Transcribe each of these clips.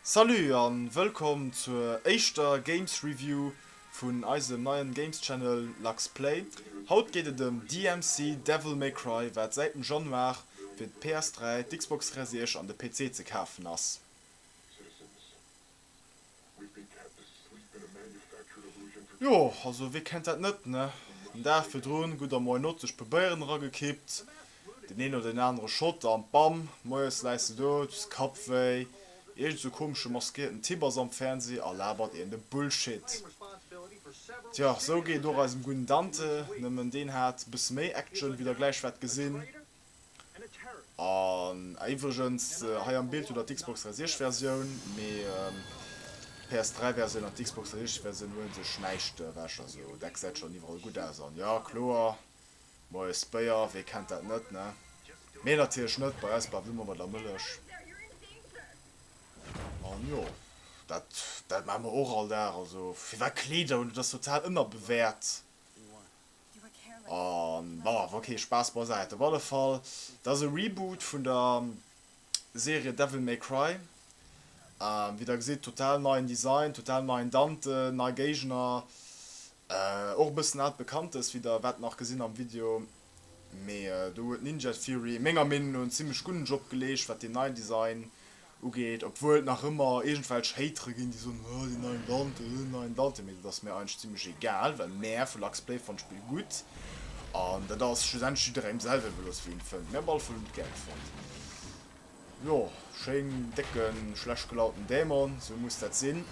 Salut an wëllkomm zur éischter Games Review vun eisem neien Games Channel Lux Play. Haut geet et em DMC Devil May Cry wat säit dem Januar fir d'PS3, d'Xbox Series X an de PC ze kafen ass. Jo, also wee kennt dat net, ne? Den Dag virdrun gutt am Moyenot sech e puer Béieren eragekippt, deen een oder deen anere Shot an bam, moies läis de do, du hues Kappwéi, iergend sou komesche maskierten Typ ass am Fernseh a labert een de Bullshit. Tjo, sou geet et och eisem gudden Dante, nëmmen deen hat e bësse méi Action wéi der gläich wäert gesinn. An ah iwwregens, hei am Bild hutt der d'Xbox 360 Versioun, mee d'PS 3 Versioun an d'Xbox 360 Versioun huelen sech näischt ewech. Also dat gesäit schonn iwwerall gutt aus an jo kloer, Moies Béier, wee kennt dat net ne? Mee natierlech net bei eis, Bavü Mol mat der Mëllech. An jo, dat dat maache mer och all Dag. Also firwat Kleeder hunn, dat ass total ënnerbewäert. An brrf, ok, Spaass beisäit. Op alle Fall, dat ass e Reboot vun der Serie Devil May Cry. Wéi der gesitt, total neien Design, total neien Dante, nei Géigner, och e bëssen aalt Bekanntes, wéi der wäert nach gesinn am Video. Mee do huet Ninja Theory, menger Meenung no, en zimmlech gudden Job geleescht, wat deen neien Design ugeet, obwuel et nach ëmmer iergendwelch Hatere ginn, déi soen, oh den neien Dante, oh den neien Dante, mee dat ass mir eigentlech zimmlech egal, well mär vu Lux Play fanne d'Spill gutt an dat ass schlussendlech jidderengem selwer iwwerlooss wéi en fënnt. Mir op alle Fall hunn et gär gefonnt. Jo, schéin décken schlecht gelaunten Dämon, sou muss dat sinn.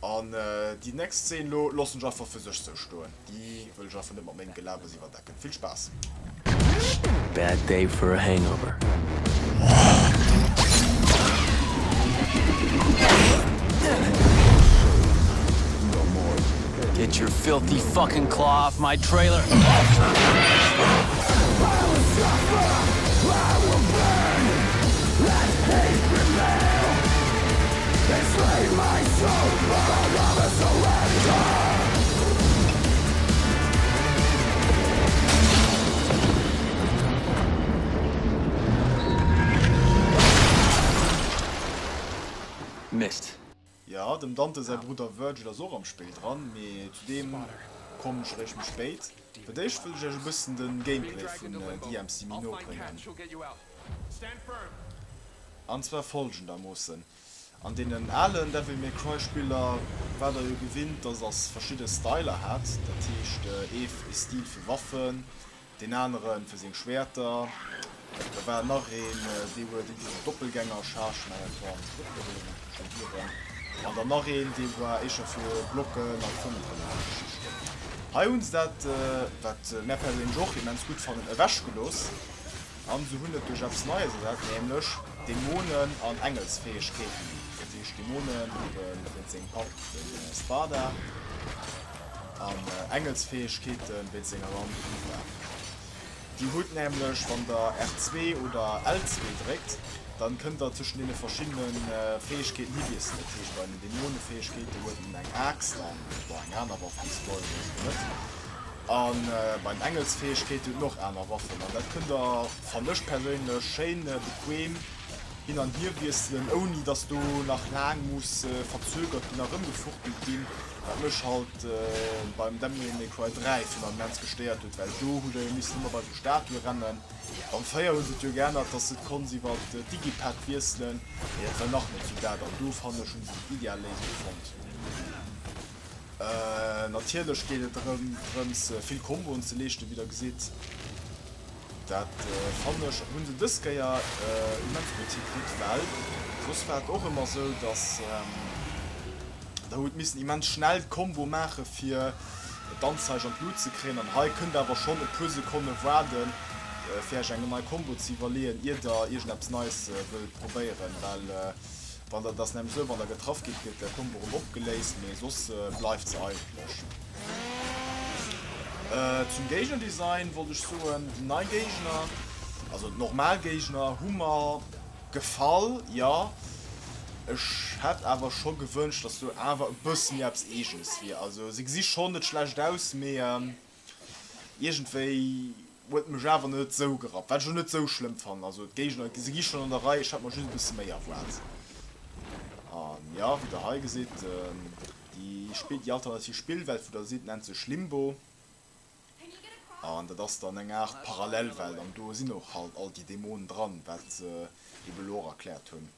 An déi next Szene lo lossen ech einfach fir sech sou stoen, déi wëll ech einfach net mat mengem Gelabers iwwerdecken. Vill Spaass! Bad day for a hangover. Get your filthy fucking claw off my trailer! Mist. Jo, dem Dante säi Brudder Virgil ass och am Spéill dran, mee zu deem kommen ech eréischt méi spéit. Fir d'éischt wëll ech iech e bëssen de Gameplay vun DMC Minor bréngen. An zwar folgendermoossen, An deenen alen Devil May Cry Spiller war der jo gewinnt, dass ass verschidde Styler hat. Dat heescht ee Stil fir Waffen, deen anere fir seng Schwäerter. Da war nach een, dee huet iergendwéi sou Doppelgängerchargen, awer dat waren och net onbedéngt eng Couche Viren. An dann nach een, dee war éischer fir Blocken a Konteren a sou Geschichten. Hei hu se dat, wat mär perséinlech och immens gutt fannen, ewechgelooss. An se hunn et duerch eppes Neies ersat, nämlech Dämonen an Engelsfäegkeeten. Dat heescht, Dämonen hunn wéinst sengem Papp, dem Sparda, an Engelsfäegkeete wéinst senger Mamm, dem Eva. Dir hutt nämlech, wann der R2 oder L2 dréckt, dann kënnt der tëschent deene verschiddene Fäegkeeten hi wiesselen. Dat heescht, bei den Dämonefäegkeete huet een eng Aaxt an bei enger anerer Waffe, déi se geheien, huet een se net. A bei den Engelsfäegkeeten huet en och aner Waffen an dat kënnt der, fannt ech perséinlech, schéin bequem hin an hier wiesselen, ouni datt do nach laang muss verzögert ginn a rëmgefuchtelt ginn, wat mech halt beim Devil May Cry 3 vun am mens gestéiert huet, well do hutt der jo missen ëmmer bei esou Statue rennen. Am 4 hu se et jo geännert, datt s de et konnts iwwer d'Digipad wiesselen, mee dat war nach net esou dat an do, fannt ech, hu se déi ideal Léisung fonnt. Natierlech geet et drëms vill Komboen ze leeschten, wéi der gesitt. Dat fannen ech, hunn se dës Kéier immens gutt hikritt, well soss war et och ëmmer esou, dass der hutt missen immens schnell d'Kombo maache fir d'Anzeige an d'Lut ze kréien. An hei kënnt der awer schonn e puer Sekonne waarde fir iech eng nei Kombo ze iwwerleeën, ier der iergendeppes Neies wëllt probéieren, well Wann der dass nämlech sou, wann der getraff gitt, gëtt der Combo erëm opgeléist, mee soss bleift se eigentlech. Zum Géignerdesign wollt ech soen, déi nei Géigner, also d'normal Géigner, hu mer gefall, jo. Ech hätt awer scho gewënscht, dass do awer e bësse méi eppes Eegenes wier. Also se gesi schonn net schlecht aus, mee Iergendwéi huet et mech awer net esou gerappt, wat ech och net esou schlëmm fannen. Also d'Géigner, se gi schonn an der Rei, ech hat mer just e bësse méi erwaart. An ja, wéi der hei gesitt, déi Spill, déi alternativ Spillwelt, wou der sidd, nennt sech Limbo. An dat ass dann eng Aart Parallelwelt an do sinn och halt all déi Dämonen dran, wat se ebe elo och erkläert hunn.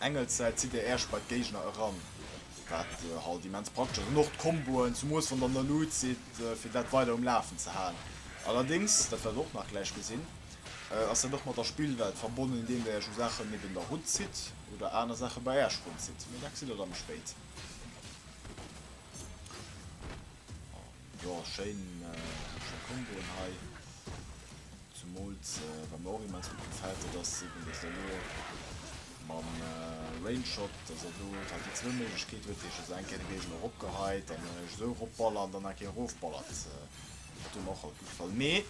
Engelssäit zitt dir Äerch bei d'Géigner eran, wat halt immens praktesch ass, an och d'Komboen zum Moos vun der Nalute si fir dat weider um Lafen ze halen. Allerdéngs, dat wäert der och nach gläich gesinn, ass dat och mat der Spillwelt verbonnen, indeem der Iech u Saachen niewent der Rutt zitt oder aner Saache bei Äerch run zitt. Mee dat gesitt der da méi spéit. Jo schéin schéin Komboen hei, zumols wat mer och immens gudd gefällt dat ass eben dass der elo mam Range Shot dass der do halt déi zwou Méiglechkeeten huet, heesch dass der eng Kéier de Géigner erop geheit an dann esou erop ballert an dann eng Kéier erof ballert, dat huet mer och alt gudd gefall mee.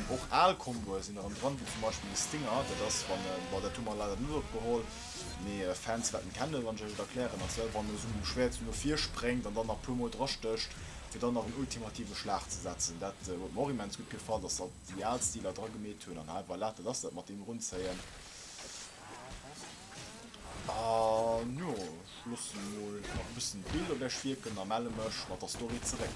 Och al Comboe sinn erëm dran, wéi zum Beispill de Stinger. Dat ass wann e, bon dat hu mer leider net opgeholl, mee Fans wäerten et kennen, wann ech lech et erklären, ass well wann e sou mam Schwäert sou no vir spréngt an dann nach e puer mol dra stécht, fir dann nach en ultimative Schlag ze setzen. Dat huet mer och immens gutt gefall, datt se alt déi al Stiler dra gemeet hunn. An hei, voilà, dat ass dat mat deem Erunzéien. An jo, ech loossen emol nach e bëssen d'Bild op iech wierken a melle mech mat der Story zeréck.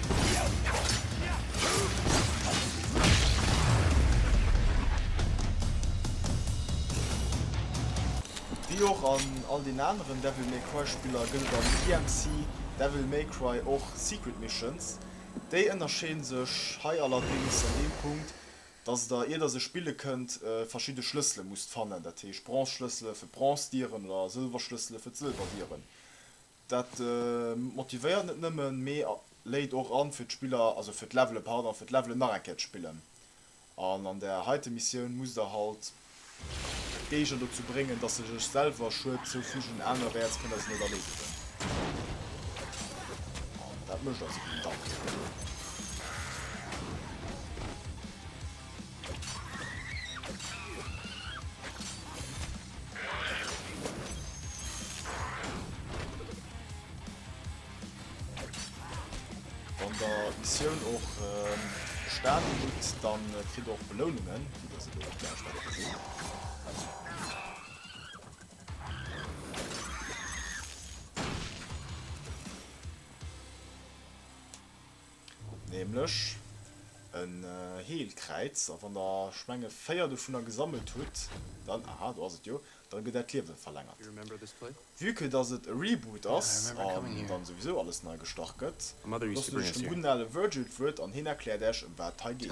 Wéi och an all den aneren Devil May Cry Spiller gëllt am DMC Devil May Cry och Secret Missions. Déi ënnerscheeden sech hei allerdéngs an deem Punkt, dass der ier der se spille kënnt verschidde Schlëssele musst fannen, dat heescht Bronze Schlëssele fir d'Bronze Dieren oder Sëlwer Schlëssele fir d'Sëlwer Dieren. Dat motivéiert net nëmmen, mee léit och an fir d'Spiller, also fir d'Levelen, pardon, fir d'Levelen nach eng Kéier ze spillen. An an der heite Missioun musst der halt d'Géigner dozou bréngen, dass se sech selwer Schued zoufügen, anerwäerts kënnt der se net erleedegen. An dat mécht also den Dante. Wann der Missioun och bestaanen ähm, hutt, dann äh, kritt och Belounungen, wie dat se do gläich bei der gesinn. Nämlech en Heelkräiz. A wann der, ech mengen, véier dovunner gesammelt hutt, dann, aha, do ass et jo, dann gëtt äert Liewe verlängert. Vue que dass et e Reboot ass an dann souwisou alles nei gestart gëtt, loossen ech dem gudden ale Virgil d'Wuert an hien erkläert äerch ëm wat et hei geet.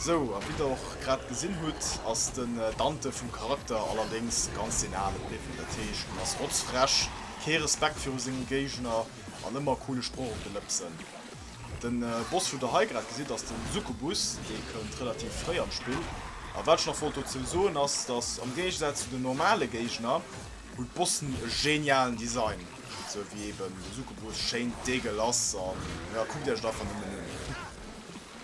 Sou, a wéi der och grad gesinn hutt, ass den Dante vum Charakter allerdéngs ganz den ale bliwwen. Dat heescht, en ass rotzfrech, kee Respekt viru senge Géigner an ëmmer e coole Sproch op de Lëpsen. De Boss, wou der hei grad gesitt, ass de Succubus. Dee kënnt relativ fréi am Spill. A wat ech nach wollt dozou soen ass, dass am Géigesaz zu den normale Géigner, hunn d'Bossen e genialen Design, sou wéi eben de Succubus, schéin deegelass, a jo, kuckt Iech et einfach nëmmen un.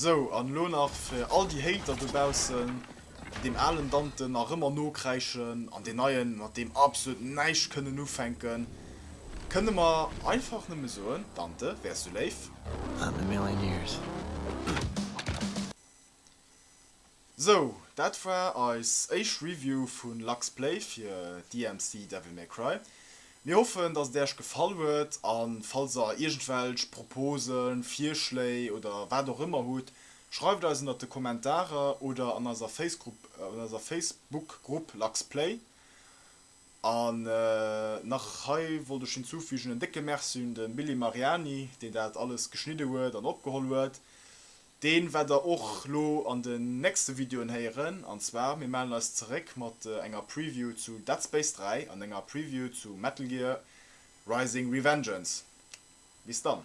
Sou, an elo nach fir all déi Hater dobaussen, déi deem alen Dante nach ëmmer nokräischen an deen neien mat deem absolut näischt kënnen ufänken, kënne mer einfach nëmme soen, Dante, wär sou léif. Sou, dat war eis éischt Review vu Lux Play fir DMC Devil May Cry. Mir hoffen, dass et Äerch gefall huet an falls der iergendwelch Proposen, Virschléi oder wat och ëmmer hutt, schreift eis ënnert de Kommentarer oder an eiser Facegrupp, an eiser Facebook Grupp Lux Play. An nach hei wollt ech hinzufügen en décke Merci un de Billy Mariani, deen dat alles geschnidde huet an opgeholl huet. Deen wäert der och lo an den nächste Videoen héieren, an zwar mir mellen eis zeréck mat enger Preview zu Dead Space 3 an enger Preview zu Metal Gear Rising Revengeance. Bis dann!